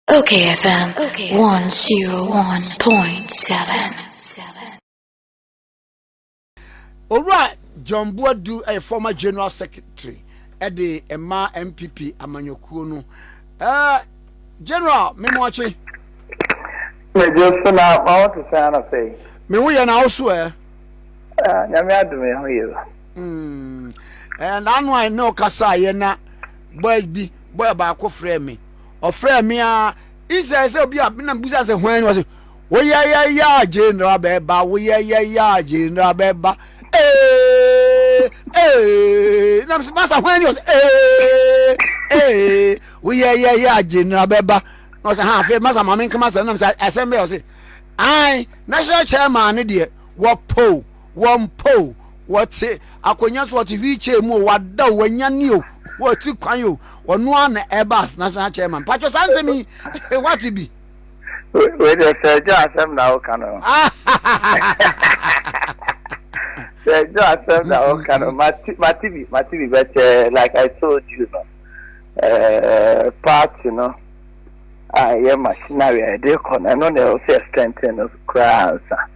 Okay FM 101.7. Owura John Boadu ɛyɛ former general secretary ɛde ɛma MPP amanyɔkuo no. Ɛɛ general Memoakye. Mɛgye so na ma wɔn te sɛn na sɛn. Me ho yɛ na awoso ɛ. Nyame adum yɛ ho yɛ. Ɛɛ n'ano a ɛna ɔkasa yɛ na boys bi. bɔyɛ baako frɛɛ me. Ɔfrɛɛ me a, instead sɛ obi a na bisa sɛ hwan ni ɔse woyɛyɛyɛ a general bɛba woyɛyɛyɛ a general bɛba ee ee na mesɛ masa hwan ni ɔse ee ee woyɛyɛyɛ a general bɛba na ɔsɛ ha afei masa maame nkama sɛ na mesɛ asɛm bɛyɛ ɔse ae national chairman ne deɛ wɔpoo wɔmpa o, wɔte akonnwa so, wɔte wheelchair mu o, wada o, wanya ni o, wɔte kwan o, ɔno ara na ɛba as national chairman. Patro saa nsɛm yi, wate bi? Wei deɛ sɛ ɛdwo asɛm na woka no. Sɛ ɛdwo asɛm na woka no, mate bi, mate bi, but uh, like I told you no, uh, party no, a ɛyɛ machinery a ɛde kɔ no, ɛno na ɛwɔ sɛ strengthen no koraa ansa.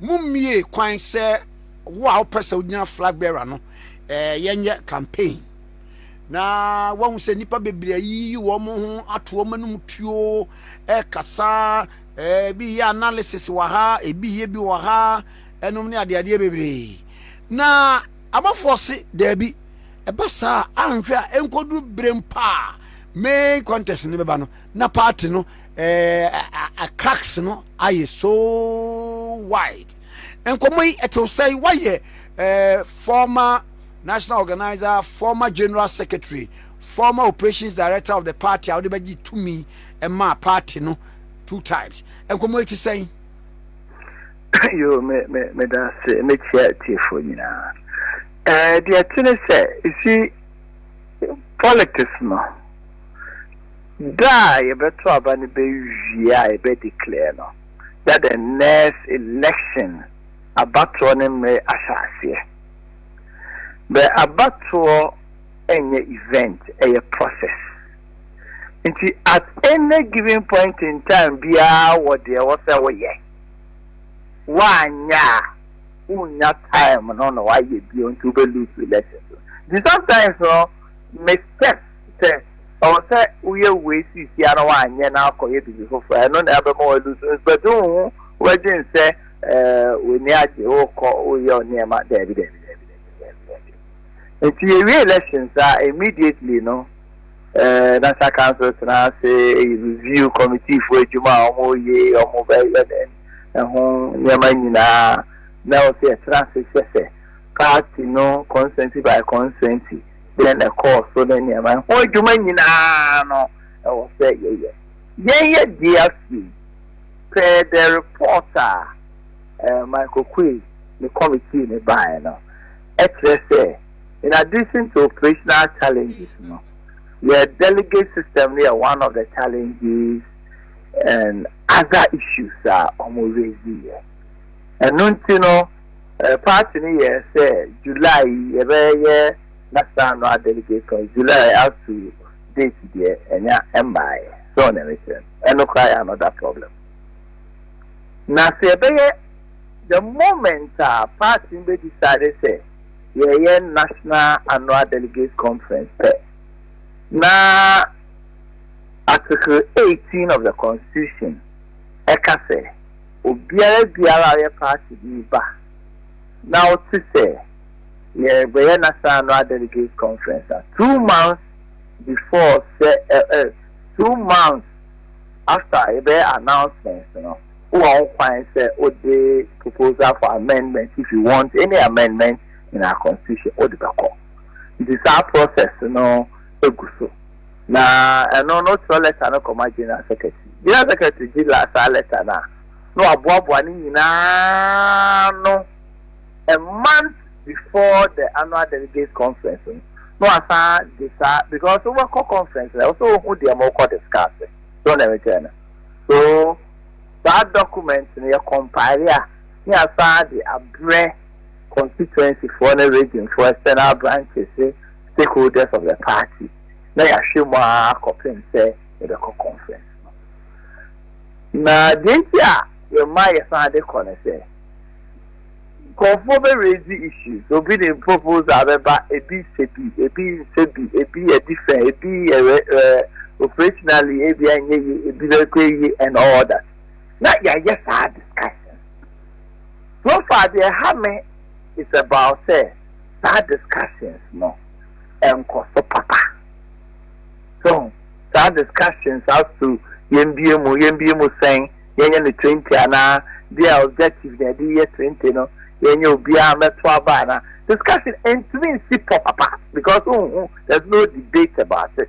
Mummue kwan sɛ wo a wopɛ sɛ wogyina flag bearer no eh, yɛnyɛ campaign na woahu sɛ nnipa bebree ayiyi wɔn ho ato wɔn anom tuo ɛkasa eh, ebi yɛ analysis wɔ ha ebi yɛ bi wɔ ha ɛnom ne adeadeɛ bebree na abɔfoɔ se daabi ɛba saa anhwɛ a ɛnkɔduru berem paa main contest no bɛba no na party no ɛɛ cracks no ayɛ so wide nkɔmɔ yi ɛte sɛn wayɛ ɛɛ former national organizer former general secretary former operations director of the party a wɔde bɛgye tumi ɛmaa party no two times nkɔmɔ yi te sɛn. yoo me me me da ase me kyia tiefo nyinaa ɛɛ deɛ ɛte ne sɛ esi politics no. Da a yɛbɛto aba no bɛwie a yɛbɛ declare no na the next election abatoɔ no mmere ahyɛ aseɛ. Bɛ abatoɔ nyɛ event, ɛyɛ process. Nti at any given point in time biara wɔ deɛ ɛwɔ sɛ woyɛ. Woanyɛ a wonnya time no na woayɛ bio nti wobɛ lose election. Nti sometimes no me steps sɛ ɔwɔ sɛ woyɛ wei seesia na wanyɛ na akɔyɛ biribi foforɔ ɛno na ɛbɛma walusu nsipɛte wo ho wobɛdwen sɛ w'ani agye wokɔ woyɛ nneɛma daabi daabi daabi daabi daabi nti yɛwie elections a immediately no national council tena ase review committee fo adwuma a wɔyɛ wɔn bɛyɛ dɛn ɛho nneɛma nyinaa na wɔsɛ yɛtena ase hyɛ sɛ party no consensus by consensus sɛn na ɛkɔɔ so ne nneɛma ɛho adwuma nyinaa no ɛwɔ sɛ yɛyɛ yɛn yɛ die afei per the report a eh, Michael Quay ne committee ne baeɛ no ɛkyerɛ sɛ in addition to operational challenges no yɛ delegate system no yɛ one of the challenges and other issues a wɔn raise yɛ ɛno nti no Party no yɛ sɛ July yi yɛbɛ yɛ nasaano a delegation July aso date deɛ ɛnya ɛmmaɛ sɛ wo neɛ mekyerɛ no ɛno koraa yɛ another problem na sɛ yɛbɛ yɛ the moment a party no bɛ decide sɛ yɛyɛ national annual delegate conference pɛ na article 18 of the constitution ɛka sɛ Obiara biara a ɔyɛ party bi ba na ɔte sɛ yɛrebɛyɛ National Annual Delegates Conference a, two months before sɛ ɛ ɛ two months after yɛbɛyɛ announcement no, wowɔ ho kwan sɛ wode proposal for amendment if you want any amendment in our constitution wode bɛkɔ. Nti saa process no. gu so. Na ɛno no ɔtwerɛ lɛta no kɔma General Secretary. General Secretary gye la saa lɛta no a, na waboaboa ne nyinaa ano a month before the annual delegates conference no, na wasan de saa because wobɛkɔ conference no ɛwɔ sɛ wohu deɛ ma wokɔ discuss. So na mekyerɛ no. So saa document no yɛ compile a ne yɛasan de abrɛ constituency foɔ ne region foɔ external branches stakeholders of the party, na yɛahwɛ mu ara kɔpem sɛ yɛbɛkɔ conference no. Na deɛ nti a yɛma yɛsan de kɔ ne sɛ, nkorɔfoɔ bɛ raise issues, obi de proposal bɛba, ebi sɛ bi, ebi nsɛ bi, ebi yɛ different, ebi yɛ rɛ rɛ, operationally ebi a nyɛ yie, ebi bɛ kɔ yie and all that. Na yɛayɛ saa discussions. So far deɛ ɛha me is about sɛ, saa discussions no nkɔ so papa. So hu? Saa discussions as to yɛmbue mu, yɛmbue mu sɛn, yɛnyɛ no twenty anaa, deɛ objective na yɛde yɛ twenty no, yɛnyɛ obiara mmɛto aba anaa, discussion ntumi nsi pɔ papa because wonhu, there's no debate about it.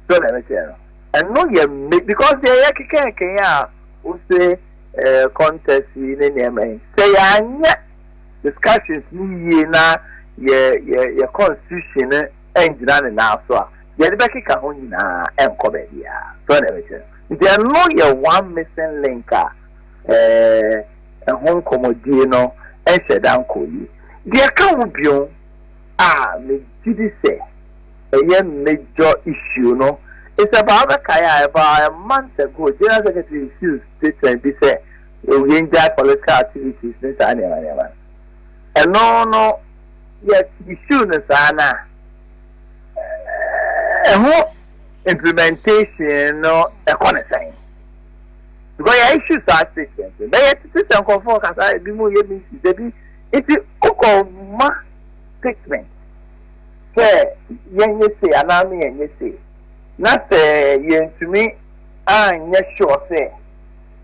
So na ɛbɛkyerɛ no. Ɛno yɛ me because deɛ yɛ kekɛɛkɛn a wose eh, contest yi ne nneɛma yi, sɛ yɛanyɛ discussions no yie na yɛ yɛ yɛ constitution no ɛngyina ne nan so a deɛ ɛde bɛkeka ho nyinaa ɛnkɔ baabiara so ɛna ɛbɛkyɛ nti ɛno yɛ one missing link a ɛɛ ɛho nkɔmɔdie no ɛnhyɛ da nkɔ yie deɛ ɛka ho bio a megye di sɛ ɛyɛ major issue no is about bɛkae a about a month ago general secretary refused statement bi sɛ Yɛ wie ngyae political activities ne saa nneɛma nneɛma no. Ɛno no yɛ issue no saa no a, ɛho implementation no ɛkɔ ne sɛn? Because yɛ issue saa state yɛn so. Bɛyɛ tete sɛ nkɔfoɔ kasa ebi mu yɛ meeting dabi nti wokɔ ma statement sɛ yɛn nyɛ se anaa me yɛn nyɛ se na sɛ yɛntumi anyɛ sure sɛ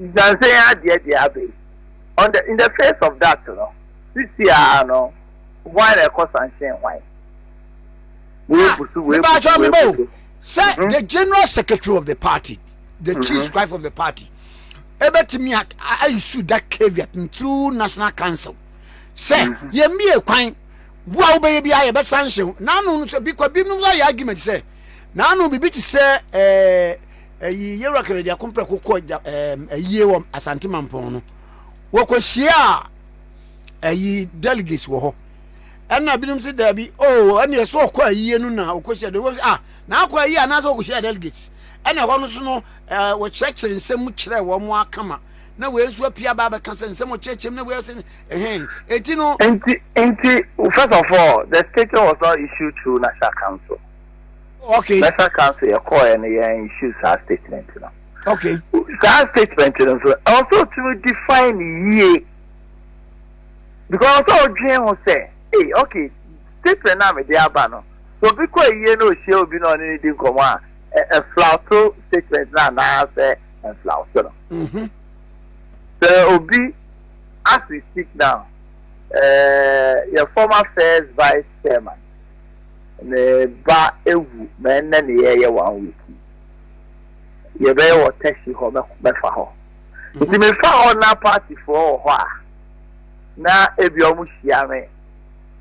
Nyansa yi adeɛ deɛ aba yi. On the, in the face of that no, sisi ara no, hwan na ɛkɔ sanhyɛn hwan? Wei bu so, wei bu so, wei bu so. Sɛ mhm. the general secretary of the party, the mhm. chief scribe of the party, ebetumi ayisu that caveat through national council. Sɛ mhm. yɛn mi yɛ kwan wo a wobɛyɛ bi ayɛ bɛsa nhyɛ ho naano no sɛ bi kwa binom nso ayɛ argument sɛ naano biribi te sɛ ɛɛ eh, Eyi yewura Kɛrɛdiako prɛko kɔɔ gya ɛɛm ayie wɔ Asante Mampɔn no. Wɔkɔhyia ayi delegates wɔ hɔ. Ɛna binom sɛ daabi, oh, ɛneɛ sɛ ɔkɔ ayie no na ɔkɔhyia delegates. Wɔsɛ, ah, na akɔ ayie anaasɛ ɔkɔhyia delegates. Ɛna ɛhɔ no so no, ɛɛ, wɔkyerɛkyerɛ nsɛm mu kyerɛ wɔn mo akama. Na wei nso apia ba abɛka sɛ nsɛm ɔkyerɛkyerɛ mu na wei asɛ, ɛhɛn, eti no. Nti, nti, first of all, the statement was not issued through National Council. National Council yɛ kɔɔɛ no yɛn issue saa statement no. Okay. Saa statement no nso ɛwɔ sɛ otumi define ne yie because ɔsɛ ɔdwen ho sɛ ee okay statement na mede aba no so obi kɔ ayie na ohyia obi na ɔne ne di nkɔmɔ a ɛflawto statement na anaasɛ ɛflawto no. Mm-hmm. Sɛ obi as we speak now ɛɛ yɛ former first vice chairman. Me ba awu ma ɛnnɛ ne yɛɛyɛ one week yi. Yɛbɛyɛ wɔ taxi hɔ mɛfa hɔ. Mhm. Nti mefa hɔ na partyfoɔ wɔ hɔ a na ebi ɔmo hyia me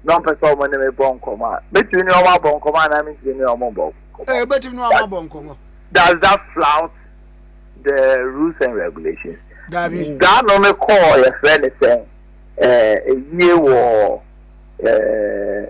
na ɔmpɛ sɛ ɔmo ne me bɔ nkɔmɔ a mɛtumi ne ɔmo abɔ nkɔmɔ a na mentumi ne ɔmo bɔ nkɔmɔ. Ɛɛ eh, bɛtumi ne ɔmo abɔ nkɔmɔ. Does that flout the rules and regulations? Dabi. Daa no me kɔɔ yɛfrɛ ne sɛn ɛɛ eh, eyie wɔ ɛɛ. Eh,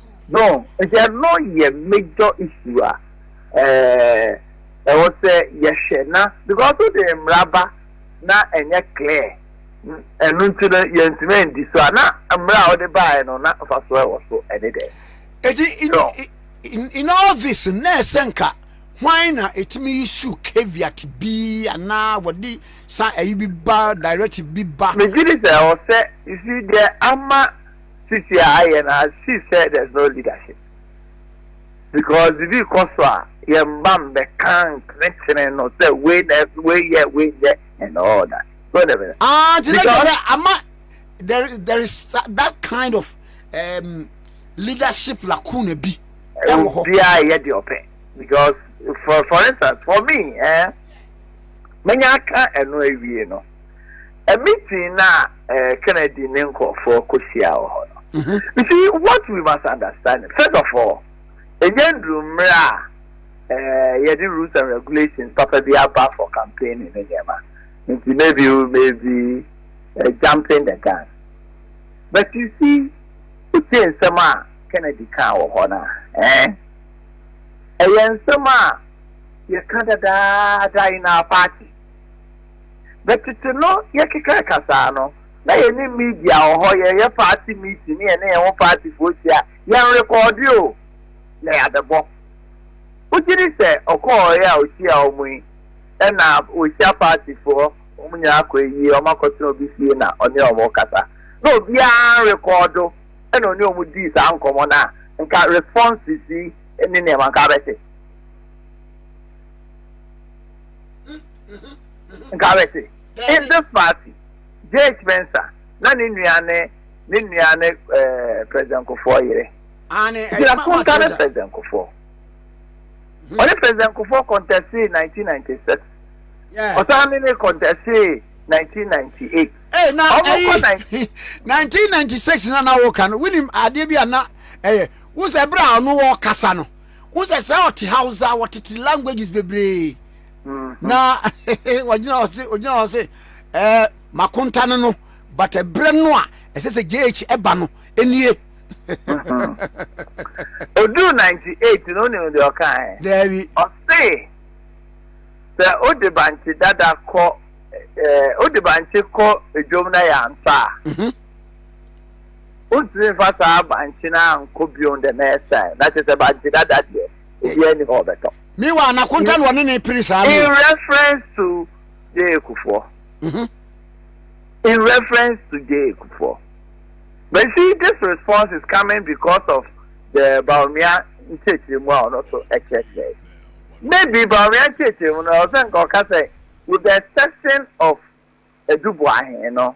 No, nti ɛno yɛ major issue a ɛɛ ɛwɔ sɛ yɛhwɛ na because wo de mmara ba na ɛnyɛ clear ɛno nti no yɛntumi andi so a na mmara a wɔde baeɛ no na mfasoɔ ɛwɔ so ɛne dɛ. Eti in, no. in, in all this na ɛsɛ nka hwan na ɛtumi yi su caveat bi anaa wɔde sa ɛyi bi ba direct bi ba. Megye di sɛ ɛwɔ sɛ you see deɛ ama. sisi a ayɛ no as she said there's no leadership because bibi kɔ so a yɛn mma mbɛka nkenekyene no sɛ wei na wei yɛ wei yɛ and all that so na bɛ. ah ti na kyerɛ sɛ ama there is there is that kind of um, leadership lacuna bi ɛwɔ hɔ obiara yɛ deɛ ɔpɛ because for for instance for me eh, menya aka ɛno awie no. meeting na eh, Kennedy ne nkurɔfoɔ kɔhyia wɔ hɔ no mm-hmm. you see what we must understand first of all ɛnyɛ nduru mmerɛ a eh, yɛde rules and regulations papa bi aba for campaigning ne nneɛma nti maybe we may be uh, jumping the gun but you see wotie nsɛm a Kennedy kaa wɔ hɔ no a eh? ɛyɛ nsɛm a yɛka dadaada in our party Na tsetse no yɛkeka kasaa no, na yɛnye media wɔ hɔ, yɛyɛ party meeting na yɛne hɛnho partyfoɔ hyia, yɛnrekɔɔde o, na yɛabɛbɔ. Wogye di sɛ ɔkɔɔe a ohyiaa wɔn yi, nna oehyia partyfoɔ, wɔn nyinaa kɔ ewie, wɔakɔtsena obi fie na ɔne wɔn rekasa. Na obiara rekɔɔdo na ɔne wɔn dii saa nkɔmbɔ no a, nka responses yi ne nneɛma nka abɛtse. nka wɛte in this party jh mensa na ne nua ne ne nua ne eh, president kofoɔ yere gyina konta ne president kofoɔ ɔne president kofoɔ kɔntɛsee 1996 ɔsan ne ne kɔntɛsee 1998 1996 na na woka no wonim adeɛ bi a na ɛyɛ wo sɛ berɛ a ɔno wɔkasa no wo sɛ sɛ ɔte hausa wɔtete languages bebree mm-hmm. na ɔgyina hɔ se ɔgyina hɔ se ɛɛ makonta no no but ɛbrɛ no a ɛsɛ sɛ jh ɛba no ɛnie ɔduru mm-hmm. 98 no wonim deɛ ɔka ɛ daabi ɔse sɛ wode bankye dada kɔ wode bankye kɔ dwom na yɛ ansa a mm-hmm. Wontumi mfa saa bankye no ankɔ bio the next time, na kyerɛ sɛ bankye dada deɛ, obiara nni hɔ a ɔbɛtɔ. Meanwhile, Nakonta na ɔne no repere saa no o. In reference to Jay Kufuor, in reference to Jay Kufuor, but you see this response is coming because of the Bawumia nkyerɛkyerɛmu a ɔno nso ɛkyerɛkyerɛ. Maybe Bawumia nkyerɛkyerɛmu no ɔsɛ nka ɔka sɛ with the exception of Eduboahe no,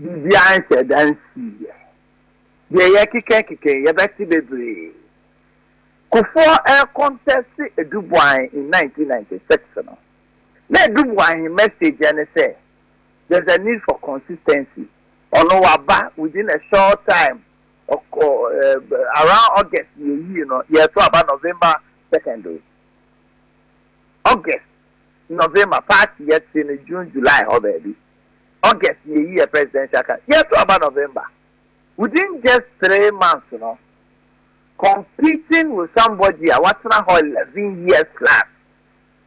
Biribiara nhyɛ da nsiiɛ. Deɛ yɛkeka keka yi, yɛbɛte bebree. Kufuor ɛrekɔntɛste Aduboahn in nineteen ninety six no, na Aduboahn message ne sɛ, there's a need for consistency. Ɔno waba within a short time, ɔkɔ eh, around August na yɛyii no, yɛreto aba November second o. August, November, party yɛte no June, July hɔ baabi. August yeyi yɛ presidential card yɛto aba November within just three months no competing with somebody a watena hɔ eleven years plus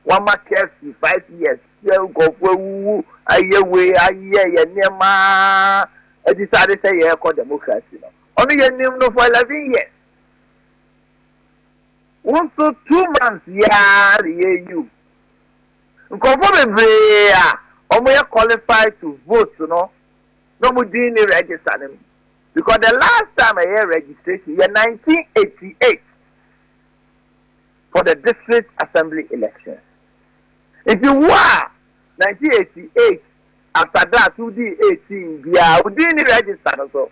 wama KFC five years sɛ nkurɔfoɔ awuwu ayɛ wei ayɛ yɛ nneɛma adisade sɛ yɛrekɔ democracy no ɔno yɛnim no for eleven years wo nso two months yɛa reyɛ yiw Nkurɔfoɔ bebree a wɔn yɛ qualified to vote no na wɔn din nni register no mu because the last time a yɛyɛ registration yɛ nineteen eighty eight for the district assembly election nti wo a nineteen eighty eight after that wo dii eighteen biara wo din nni register no so.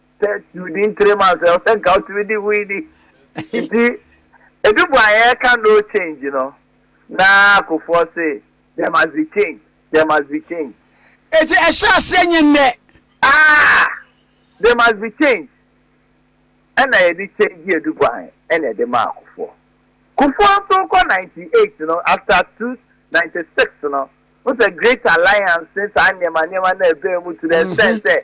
sɛ within three months ɛwɔ sɛ nka wotumi di hui ni nti edu bu a yɛka no change no na akofoɔ se there must be change there must be change. eti ɛhyɛ aseɛ nye nnɛ. ah there must be change ɛna yɛde change edu bu an ɛna ɛde ma akofoɔ kofoɔ nso kɔ ninety eight no after two ninety six no n sɛ great alliance saa nneɛma nneɛma na ɛbɛn mu to the extent sɛ.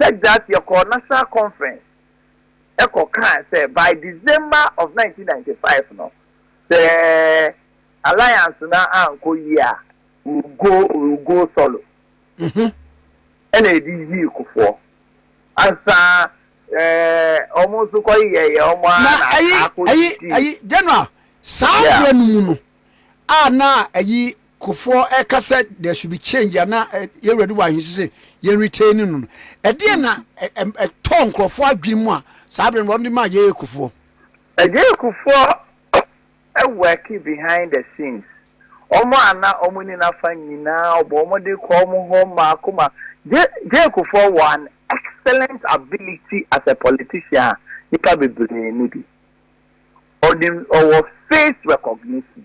Texas yɛkɔɔ National Conference kɔ kaa sɛ by December of nineteen ninety five no sɛ Alliance no ankɔ yie a we will go we will go solo mm-hmm. ɛna ɛde yii kofoɔ ansa ɛɛ wɔn nso kɔ yɛ yɛ wɔn a na ayi ayi ayi general saa abirɛ no mu no a na ayi Kufuor ɛka sɛ there should be change a na yɛn wura de wɔ ahwese sɛ yɛn retain no no ɛdeɛn na ɛtɔɔ nkurɔfoɔ adwene mu a saa abere no wɔn de maa Yeye Kufuor? Yeye Kufuor worki behind the scenes wɔn a na wɔn ni nafa nyinaa ɔbɔ wɔn de kɔ wɔn hɔ mmaako mmaako Yeye Kufuor wɔ an excellent ability as a politician a nipa bebree ni bi ɔnim ɔwɔ face recognition.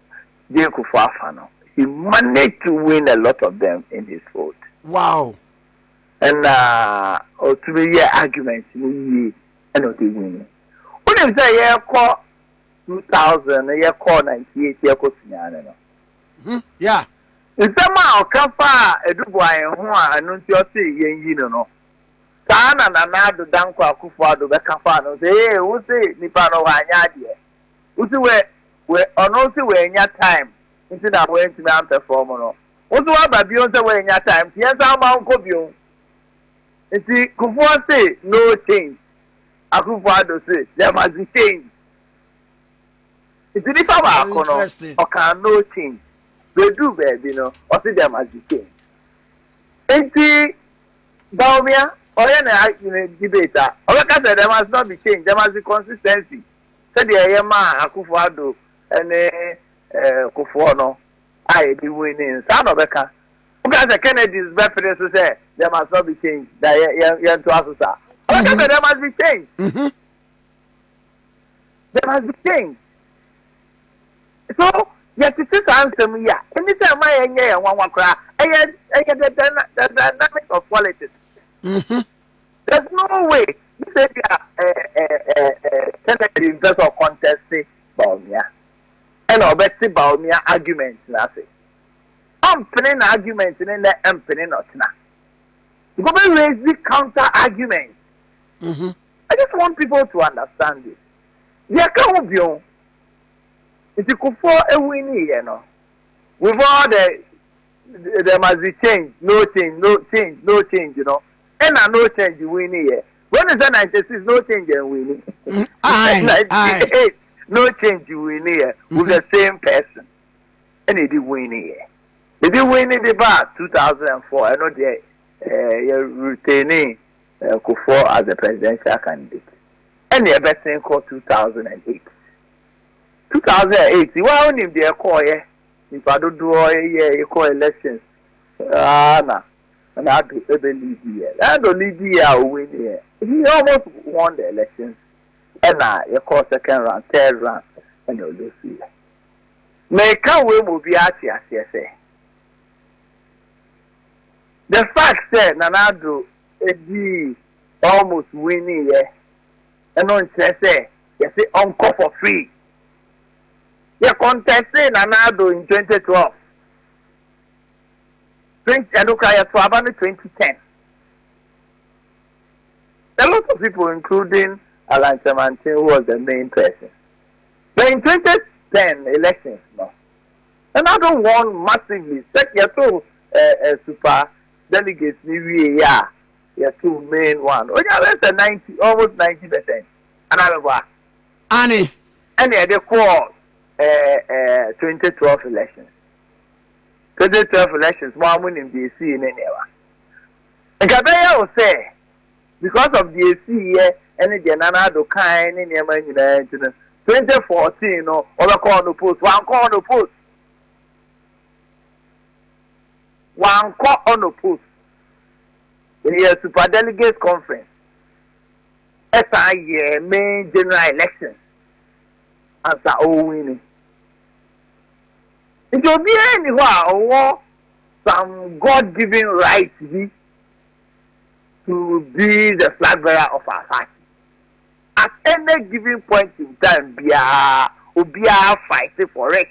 Jake fo afa no, he managed to win a lot of them in his fold. Wow. Ɛna ɔtumi yɛ argument no yie ɛna ɔde wini. Wonim sɛ yɛkɔ 2000 no yɛkɔ 98 yɛkɔ Sunyane no. Hmm, yeah. Nsɛm a ɔka fa a Edubuae ho a ɛno nti ɔse yɛn yi no no. Saa na Nana Ado Dankwa Akufo Ado bɛka fa no sɛ ee wo se nipa no hɔ anyɛ adeɛ. Wosi wɛ wɛ ɔno se wɛnya time nti na wɛntumi ampɛfɔm no woso waba bion sɛ wɛnya time nti yɛnsan ma wonkɔ bion nti kufuɔ se no change Akuffo Addo se there must be change nti nipa baako no ɔkaa no change bɛduru baabi no ɔse there must be change nti Bawumia ɔyɛ ne debate a ɔbɛka sɛ there must not be change there must be consistency sɛdeɛ ɛyɛ maa Akuffo Addo ne Kufuor no a yɛde hui no yi, saa na ɔbɛka. Woka sɛ Kennedys bɛpene so sɛ there must not be change, na yɛntoa so saa. Ɔbɛka sɛ there must be change. Mm-hmm. There must be change. So, yɛtete saa nsɛm yi a, ɛne sɛ ɛma yɛnyɛ yɛn nwanwa koraa. Ɛyɛ ɛyɛ the dynamic of politics. Mm-hmm. There's no way ne sɛ bi a Kennedy mpɛ sɛ ɔkɔntɛste Bawumia ɛna ɔbɛte Bawumia argument no ase. Ɔmpene n'argument no nnɛ ɛmpene no ɔkyena. Because ɔbɛ raise the counter argument. Mm-hmm. I just want people to understand this. Deɛ ka ho bio nti kufoɔ ewu ni yɛ no with all the There must be change, no change, no change, no change no, ɛna no change winni yɛ. Wei ne sɛ 96 no change and winni. Mm, aye, 98 aye. no change winni yɛ mm-hmm. with the same person. Ɛna ɛdi winni yɛ. Ɛdi winni de ba 2004 ɛno deɛ eh, yɛ retaining eh, Kufuor as a presidential candidate. Ɛna ɛbɛsen kɔ 2008. 2008 wa wonim deɛ ɛkɔɔyɛ. Nyimpa dodoɔ yɛ ekɔ elections aa na na Addo ebɛ lead yɛ. Na Addo lead yɛ a o win yɛ. He almost won the elections ɛna yɛkɔɔ second round, third round ɛna o lose yɛ. Meka wei ma obiara ate aseɛ sɛ the fact sɛ Nana Addo edii almost win yɛ ɛno nnkyerɛ sɛ yɛse ɔnkɔ for free. Yɛ kɔntɛstee Nana Addo in twenty twelve, twenty ɛno koraa yɛ to aba no twenty ten. A lot of people including Allan Kyerematen who was the main person. But in twenty ten elections no, Nana Addo won massively sɛ yɛ to ɛɛ ɛɛ super delegates ni wie yɛ a yɛ to main one. Onya bɛ sɛ ninety almost ninety percent. Anaa mɛ bɔ a. Aane. Ɛna yɛde kɔɔ ɛɛ ɛɛ twenty twelve elections twenty twelve elections mo ara mo nim deɛ esii ne nneɛma nka bɛyɛ wo sɛ because of deɛ esii yɛ ɛne deɛ Nana Addo kae ne nneɛma nyinaa nti no twenty fourteen no wɔbɛkɔ hɔ no post wankɔ hɔ no post wankɔ hɔ no post ɛyɛ super delegate conference. san yɛɛ main general elections ansa ɔrewini. Nti obiara nni hɔ a ɔwɔ some God given right bi to be the flag bearer of our party. At any given point in time biara obiara fight for it.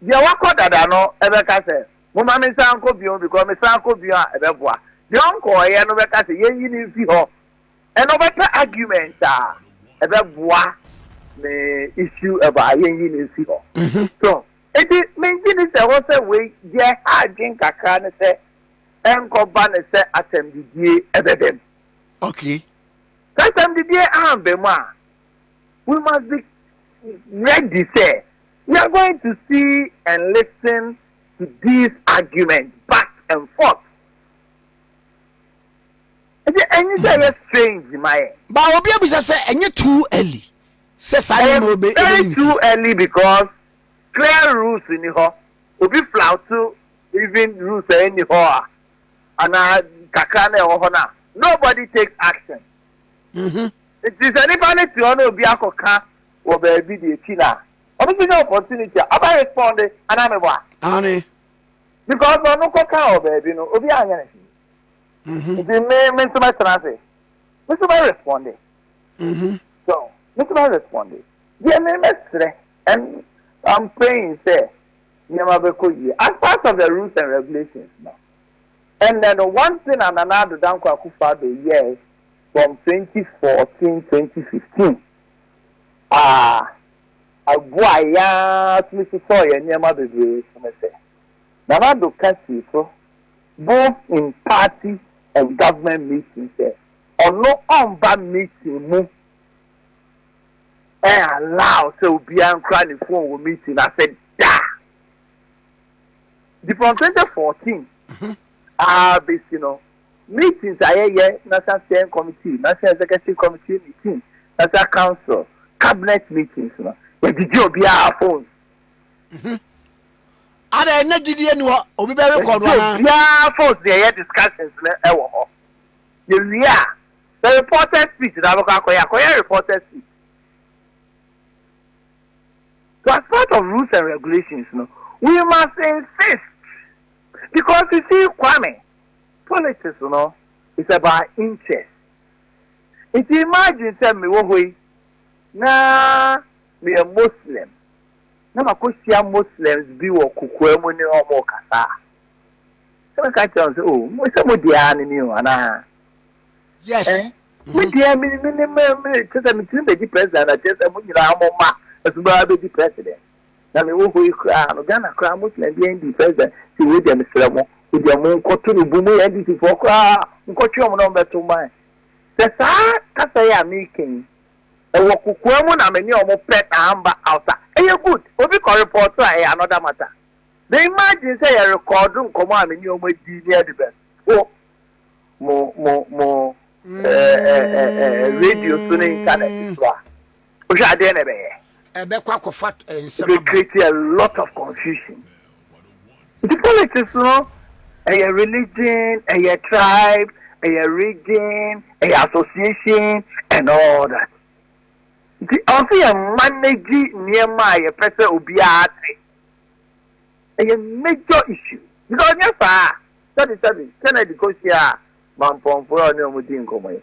Deɛ wakɔ dada no bɛka sɛ, Momma mensan nkɔ bio, because mesan kɔ bio a ɛbɛboa. Deɛ ɔnkɔeɛ no bɛka sɛ, Yɛnyi no mfi hɔ. Ɛnna ɔbɛpɛ argument a ɛbɛboa ne issue ɛbɔ a yɛnyi no mfi hɔ. So enti mengye nni sɛ ɛwɔ sɛ wei, deɛ ɛha adwene kakra ne sɛ ɛnkɔba no sɛ asɛmdidie bɛba mu. Okay. Sɛ asɛmdidie amba mu a, we must be ready sɛ We are going to see and listen to these arguments back and forth. Ɛdi ɛnyi sɛ ɛyɛ strange ma yɛ. Ba obi abisa sɛ ɛnyɛ too early sɛ saa ne ma obe ebe ne ti. too early because clear rules ni hɔ. Obi flauto even rules a ɛni hɔ a anaa kakra na ɛwɔ hɔ na nobody takes action. Mm-hmm. Nti sɛ nipa ne te hɔ na obi akɔka wɔ baabi deɛ ti na ɔno bɛnya opportunity a ɔbɛ responde anaa mebɔ a? Aane. Because ɔno kɔ kaa wɔ baabi no obiara anyɛ ne hwee mm-hmm. nti me me nso mɛtena ase me nso mɛ responde mm-hmm. so me nso mɛ responde deɛ me mɛsrɛ and I'm praying sɛ nneɛma bɛkɔ yie as part of the rules and regulations no and then one thing a Nana Addo Dankwa Akufo-Addo yɛɛ from 2014 2015. a aboa yɛn ara tumi sosɔɔ yɛn nneɛma bebree so ne sɛ, Nana Addo ka sii so both in party and government meetings sɛ ɔno ɔmba meeting mu ɛn allow sɛ obiara nkura ne phone wɔ meeting no ase da. Nti from 2014 ara bɛsi no, Meetings a yɛyɛ, National Steering Committee, National Executive Committee meetings, National Council, Cabinet meetings no, yɛgyegye obiara phones. Mhm. Ada yɛ na gyidie ni hɔ, obi bɛ rekɔ no anaa? Yɛgyegye obiara phones na yɛyɛ discussions no ɛwɔ hɔ. Yɛwie a, sɛ reporters speech na abɛkɔ akɔyɛ a, kɔyɛ reporters speech. So as part of rules and regulations no, we must insist because you see Kwame, Politics no is about interest. Nti imagine sɛ mewɔ hɔ yi na meyɛ Muslim na makɔhyia Muslims bi wɔ kokoa mu ne wɔn rekasa a, sɛ mɛka kyerɛ wɔn sɛ oh, mo sɛ mo deɛ ara ne ni o anaa? Yes. Eh? Mm-hmm. Me deɛ me me me me kyerɛ sɛ metumi bɛdi president na kyerɛ sɛ mo nyinaa mo mma nso bɛba bɛdi president. na me wɔ hɔ yi koraa no Ghana koraa mo tena bi ND president ti wei deɛ me srɛ mo wei deɛ mo nkɔ to no bu mo yɛ NDC foɔ koraa mo nkɔ twe ɔmo na ɔmo bɛ to man sɛ saa kasa yi a me kɛn yi ɛwɔ kokoa mu na me ne ɔmo pɛ na amba outa ɛyɛ good obi kɔ report a ɛyɛ another matter me imagine sɛ yɛ record nkɔmɔ a me ne ɔmo adi ne ɛde bɛ to mo mo mo ɛɛ ɛɛ ɛɛ radio so ne internet so a. wohwɛ a dɛn na ɛbɛyɛ? ɛbɛkɔ akɔfa nsɛm aba. create a lot of confusion. nti politics no ɛyɛ religion ɛyɛ tribe ɛyɛ region ɛyɛ association and all that nti ɔsɛ yɛ manage nneɛma a yɛpɛ sɛ obiara te ɛyɛ major issue because ɔnyɛ saa sɛbi sɛbi kennedy kɔ hyia a mampɔnfoɔ a ɔne ɔmo di nkɔmɔ yi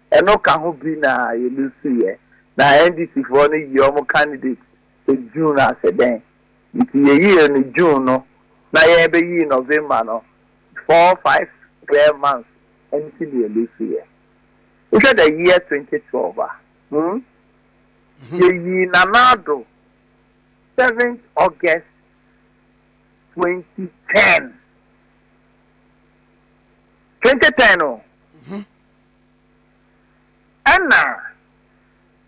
Ɛno ka ho bi na yɛ lose yɛ. Na NDC foɔ no yi wɔn candidate wɔ June ase dɛn? Nti yɛ yiyɛ no June no na yɛ bɛ yi November no four five square months nti na yɛ lose yɛ. Wo hwɛ the year twenty twelve a hmm yɛ yi Nana Addo seventh August twenty ten twenty ten o. Ɛna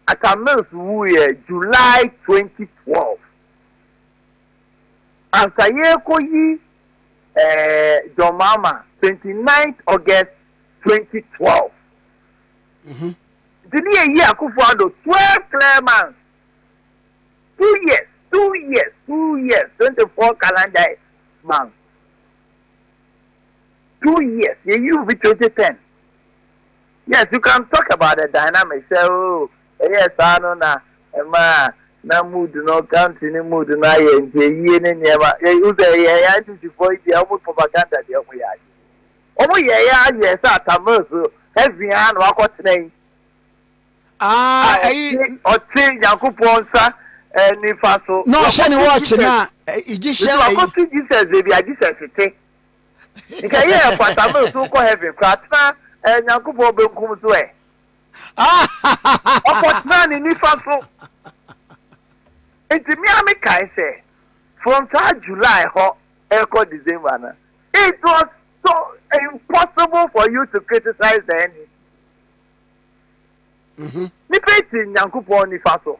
Atta Mills wuiɛ July twenty twelve. Ansa yɛrekɔ yi ɛɛ John Mahama twenty ninth August twenty twelve. Mhm. Nti ne yɛ yi Akufo Addo twelve clear months. Two years, two years, two years, twenty four calendar months. two years yɛ yiw bi twenty ten yes you can talk about the dynamic sɛ o oh, ɛyɛ saa no na ɛmaa na mood no country ne mood no ayɛ nti ayie ne nneɛma yɛhu sɛ ɛyɛ yɛ ntisifoɔ yi deɛ ɔmo propaganda deɛ ɔmo yɛ ayɛ ɔmo yɛ yɛ ayɛ sɛ atamil so heavy ara na wakɔ tena yi ah, a ɔte nyankopɔn nsa eh, nifa so na ɔhyɛ ne wɔɔkye na egyptian ɛyi wakɔto jesus ebi a jesus te. Nka yɛ ɛfata ma esu kɔ heaven koraa tena eh, Nyankopɔn benkum so eh. Ɔkɔ tena ne nifa so. Nti me a me kae sɛ from saa July hɔ ɛkɔ December no it was so impossible for you to criticize the NDC. Mm-hmm. Nipa ti Nyankopɔn nifa so.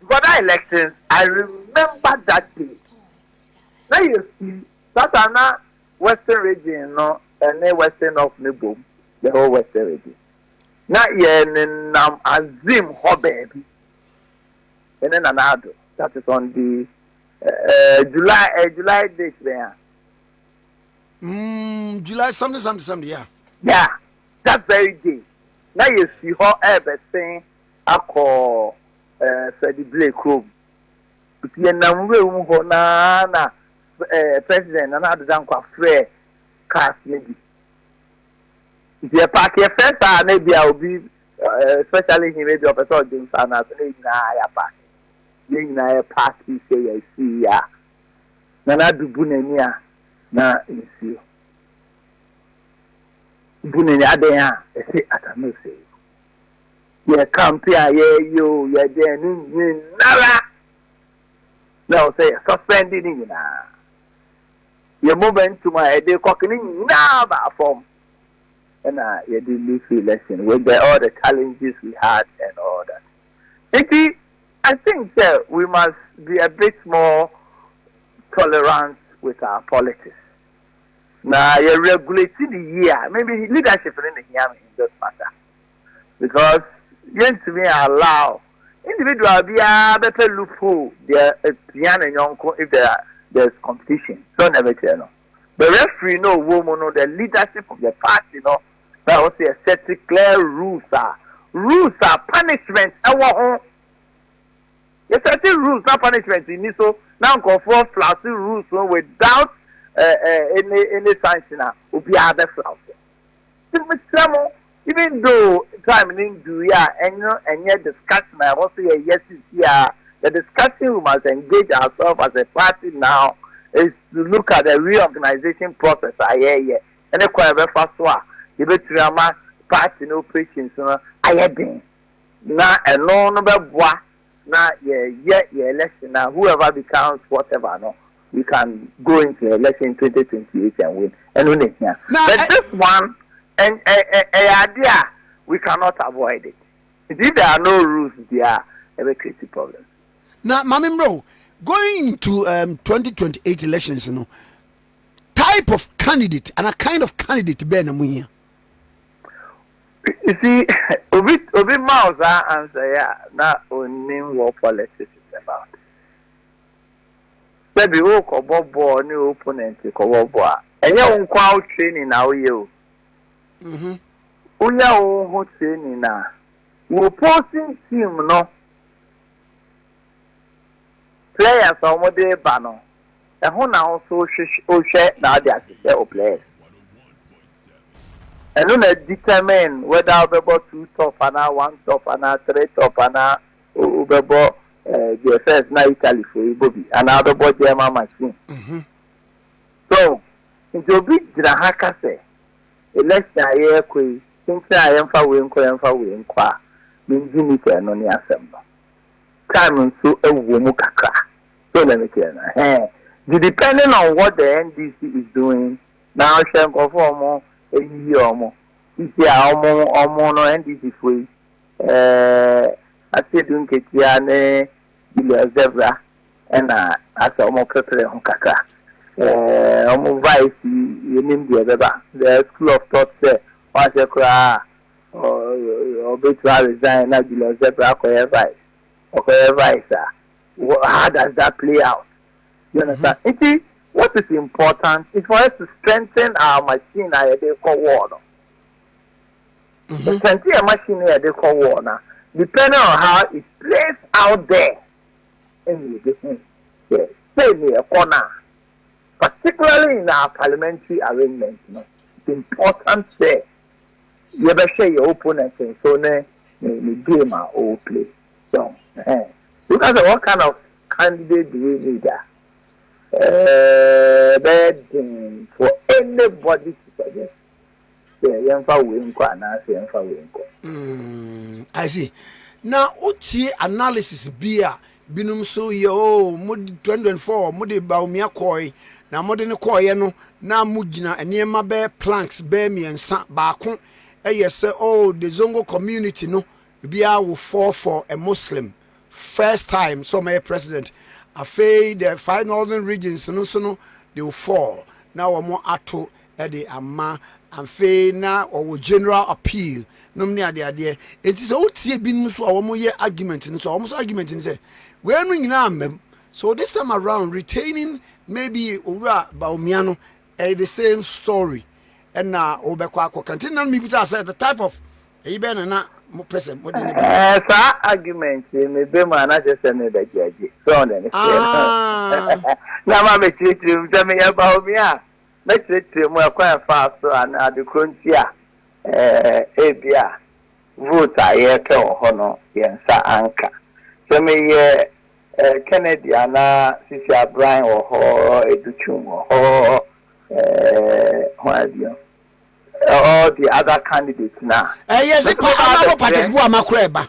Before that elections I remember that day na yɛ fi sasa na western region no ɛne western north no bom the whole western region na yɛ ne nam azim hɔ baabi ɛne nana ado that is on the uh, July uh, July date bɛn a. Mm, July something something something yeah. Yeah, that very day na yɛ fi hɔ ɛbɛsen akɔ eh, Freddie Blay kurom. Nti yɛnam nwura mu hɔ no ara na eh, President Nana Addo Dankwa frɛɛ cars no bi. Nti yɛpaake, yɛfrɛ saa a na ebia obi, eh, especially him, ebia ɔpɛ sɛ ɔdwe nsa no ase, na yɛn nyinaa yɛapaake. Yɛn nyinaa yɛpaakee sɛ yɛasii a, Nana Addo bu n'ani a na nsuo bu n'ani, adɛn a ɛte Atameose yi. Yɛ kampe a yɛyɛ o, yɛde ɛno nyinara na ɛwɔ sɛ yɛ suspend ne nyinaa. Yɛ momentum a yɛde kɔk ne nyinaa baa fam ɛna yɛde lose election with the all the challenges we had and all that. Nti I think sɛ we must be a bit more tolerant with our politics na yɛ regulate ne yie a maybe leadership ne na ehia me in this matter. because yɛntumi allow individual biara bɛpɛ loophole deɛ apia ne yɔnko if there are there is competition sɛ ɔna bɛkyerɛ no the referee no ɔwɔ mu no the leadership of the party no na ɛwɔ sɛ yɛset clear rules a rules a punishment ɛwɔ ho yɛset rules na punishment nni so na nkurɔfoɔ flase rules no without uh, uh, any, any sanction a obiara bɛflase Nti mesrɛ mo, even though time no nduruui a, ɛno ɛnyɛ discussion a ɛwɔ sɛ yɛyɛ sisi ara, the discussion we must engage ourselves as a party now is to look at the reorganisation process a yɛreyɛ ne kwan a yɛbɛfa so a yɛbɛtumi ama party no operations no ayɛ den na ɛno no bɛboa na yɛ yɛ yɛ election na whoever becomes whatever no we can go into election twenty twenty eight and win ɛno na ehia but this one ɛɛ ɛɛ ɛyɛ ade a we cannot avoid it nti if there are no rules bia ɛbɛ create problem. na maame mmerɛ o going into um, twenty twenty eight elections no type of candidate and a kind of candidate bɛɛ na mo hia. You see, obi obi ma wo saa answer yi a na onnim what politics is about. Sɛbi wokɔbɔ bɔɔl ne wo opponent kɔbɔ bɔɔl a, ɛnyɛ wo nko ara wo training na woyɛ o. Mhm. Woyɛ wo ho training a, wo opposing team no Players a wɔde reba no, ɛho na wo nso wohwɛ na wode ahyehyɛ wo players. Ɛno na determine whether wobɛbɔ two top anaa one top anaa three top anaa wobɛbɔ deɛ eh, first na Italy fo yi bɔ bi anaa wobɛbɔ German machine. Mhm. So nti obi gyina ha ka sɛ election a yɛrekɔ yi tenten a yɛmfa wei nkɔ yɛmfa wei nkɔ a mengye ni sɛ ɛno ne asɛm no. time nso wɔ mu kakra so let me say no ɛhɛn di depending on what the NDC is doing na ɔhwɛ nkurɔfoɔ ɔmo eyiyi ɔmo sisi a ɔmo ɔmo no NDC foɔ yi ɛɛ Asiedu Nketia ne Julius Zebra ɛna asɛ ɔmo pepere ho kakra ɛɛ ɔmo vice yi yɛnim deɛ ɛbɛba the school of thought sɛ ɔahyɛ koraa Ɔbɛtumi a resign na Julius Zephyr akɔyɛ vice. Ɔkɔyɛ vice a, how does that play out? You understand? Mm-hmm. Nti, what is important is for us to strengthen our machine a yɛde kɔ war no. Mm-hmm. The strengthen yɛ machine a yɛde kɔ war na depending on how it plays out there, ɛna yɛde hu sɛ sɛ ne ɛkɔ na particularly in our parliamentary arrangement no, it's important sɛ. yɛbɛhwɛ yɛn opponent nso ne ne ne game a ɔreplay so ɛhɛn woka sɛ what kind of candidate do we need a ɛɛ bɛyɛ den for anybody to suggest sɛ yɛmfa wei nkɔ anaasɛ yɛmfa wei nkɔ. Mm, I see. Na wotie analysis bi a Binom nso yɛ oo, mo 2024 mo de Bawumia kɔɔe, na mo de no kɔɔeɛ no na mo gyina nneɛma bɛɛ planks bɛɛ mmiɛnsa, baako yɛ sɛ oo the Zongo community no biara wo fall for a Muslim first time sɛ ɔmɛyɛ president, afei the five northern regions no nso no they will fall na wɔn ato de ama afei na ɔwɔ general appeal nom ne adeadeɛ nti sɛ wotie binom nso a wɔyɛ argument no so a wɔn nso argument no sɛ wei no nyinaa mmam so this time around retaining maybe owura baomia no ɛyɛ the same story ɛna wobɛkɔ akɔka nti na mebisa sɛ the type of ɛyi bɛyɛ na na mopɛ sɛ mode ne ba saa argument mebɛ mu anakyɛ sɛ mebɛgyagye sɛ ɔne ne seɛ na ma mekyerɛkyerɛ mu sɛ meyɛ baomia a Mɛkyerɛkyerɛ mu ɛkwan a ɛfaa so anaa ade korɔ nti a ebia vote a yɛrepɛ wɔ hɔ no yɛn nsa anka. Sɛ meyɛ Kennedy anaa Sisi Abran wɔ hɔ, Edu Twum wɔ hɔ, hwan bio, all the other candidates no a. Yɛse pa ama bɔ patakubɔ a makora ɛba.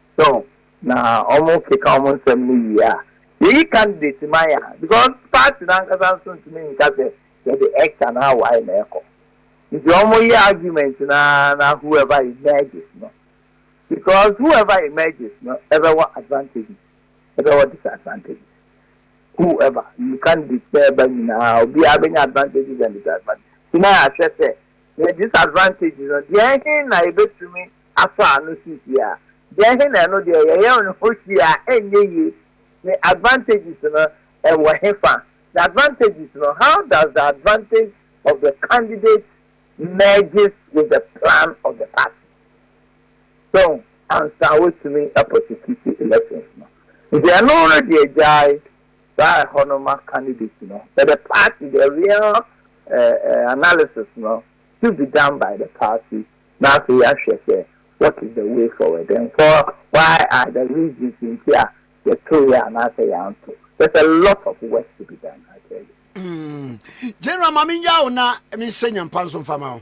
So na wɔn keka wɔn nsɛm no yie a yɛyi candidate ma yɛn a because party no ankasa nso ntumi nka sɛ yɛde X anaa Y na ɛkɔ nti wɔn yɛ argument no ara na whoever emerges no because whoever emerges no ɛbɛwɔ advantages ɛbɛwɔ disadvantages whoever you candidate sɛ ɛba nyinaa obiara bɛnya advantages and disadvantages nti na yɛahwɛ sɛ yɛ disadvantages no deɛ ɛhe na yɛbɛtumi afa no so hwi a, deɛ he na ɛno deɛ yɛyɛ no ho hwi a ɛnyɛ yie? Ne advantages no ɛwɔ he fa? The advantages no, how does the advantage of the candidate merges with the plan of the party? So, ansa wɔatumi aprosecute elections no. Nti ɛno no deɛ gyae saa ɛhɔ no ma candidate no, but the party, the real analysis no should be done by the party Na afei yɛahwɛ sɛ what is the way forward and for why are the reasons nti a yɛtoeɛ anaasɛ yɛanto. There's a lot of work to be done, I tell you. Mm. General, ma menya wo na mensɛ nyampa nso mfa ma wo.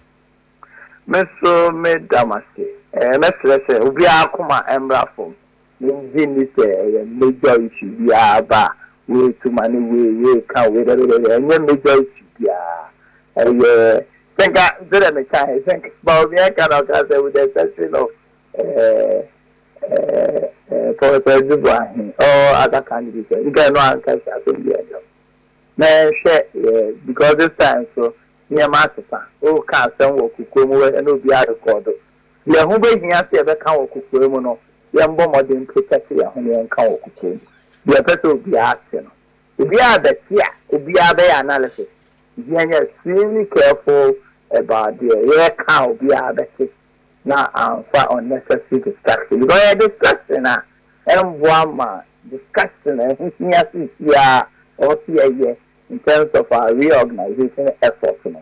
Me nso meda mo ase. Eh, mɛsrɛ sɛ obiara koma mmra fam. Yɛnngye nni sɛ ɛyɛ major issue biara ba a woretu ma ne wei reka wei dɛdɛdɛdɛ, ɛnyɛ major issue biara, ɛyɛ sɛ nka sɛdeɛ mekaeɛ sɛ nka Bawumia nka na ɔkaa sɛ with the exception of Professor Adzifua Ahe all other candidates a, nka ɛno anka hyɛ asɛm biara nni hɔ. Na yɛnhwɛ because this time nso nneɛma asesa, woka asɛm wɔ kokoam wɔ ha na obiara rekɔɔdo, Deɛ ɛho bɛhia sɛ yɛbɛka wɔ kokoa mu no, yɛmbɔ mmɔden mpagya sɛ yɛn ho na yɛnka wɔ kokoa mu. Deɛ ɛpɛ sɛ obiara te no, obiara bɛte a obiara bɛyɛ analysis nti yɛnyɛ extremely careful about deɛ yɛreka a obiara bɛte na amfa unnecessary distraction because ɛyɛ distraction a ɛmmoa ma discussion a ɛho hia seesei a ɔwɔ sɛ yɛyɛ in terms of our reorganisation effort no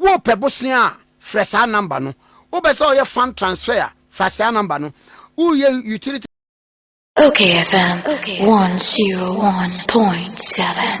Worepɛ bosea a, frɛ saa number no. Wopɛ sɛ ɔyɛ fund transfer a, fa saa number no. Woreyɛ utility. Ok FM one zero one point seven.